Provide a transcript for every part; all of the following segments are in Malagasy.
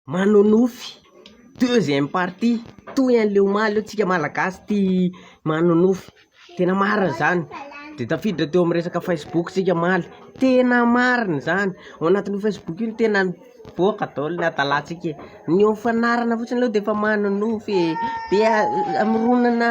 manonofy deuxième partie toy anle omaly eo tsika malagasy tia manonofy tena marina zany de tafiditra teo amin'ny resaka facebook tsika omaly tena marina zany ao anatin'io facebook io no tena nivoaka daholo ny hatalantsika e ny ho fanarana fotsiny aloha de efa manonofy e de hamoronana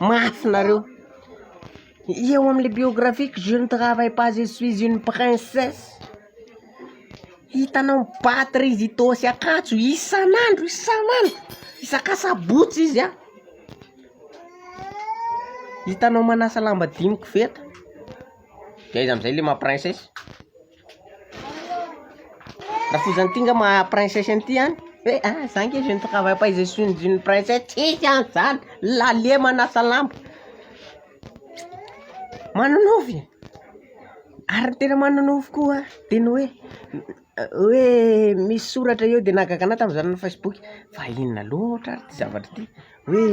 Mafy nareo. Eo am le biographieko je ne travaille pas je suis une princesse hitanao mibaty rizidô sy akanjo isan'andro isan'andro isaka sabotsy izy an hitanao manasa lamba dimy koveta de aiza amizay le maha princesse. Rafozany ty nga maha princesse an'ity an, hoe a za nge je ne travaille pas et je suis une princesse, tsisy an zany, l'allier manasa lamba, manonofy e, ary ny tena manonofy koa de ny hoe, hoe misy soratra eo de nahagaga anahy tamin'izaho nanao facebook, fa inona loatra ary ty zavatra ty, hoe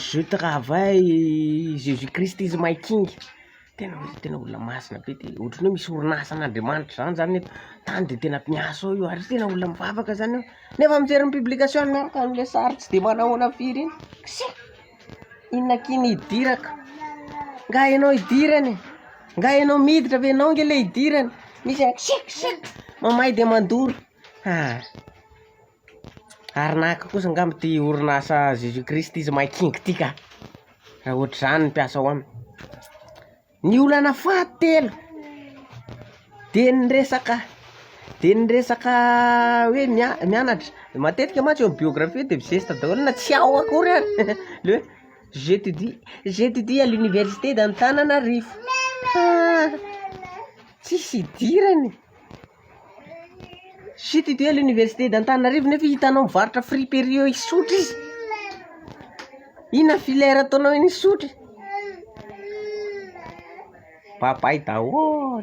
je travaille, jesus christ is my king. Tena hoe tena olona masina be dia ohatran'ny hoe misy orinasa an'Andriamanitra izany izany eto tany dia tena miasa ao io ary tena olona mivavaka izany aho nefa mijery ny publication miaraka amin'ilay sary tsy dia manahoana firy iny k'se inona k'iny hidirako nga ianao hidirana e nga ianao miditra ve ianao nge le hidirana misy k'se k'se mamay dia mandoro ah ary naka kosa ngamba ty orinasa jesus christ izy mahay kinga ty ka, raha ohatrizany ny mpiasa ao aminy, ny olana faha telo de ny resaka de ny resaka hoe mia- mianatra, matetika mantsy eo aminy biographie de mizesta daholo na tsy ao akory ary le hoe j'etudie j'etudie à l'université d'Antananarivo, ha tsisy idirany. Chute ity à l'université d'Antananarivo nefa hitanao mivarotra friperie eo Isotry izy. Inona filière ataonao eny Isotry? Babay daholo.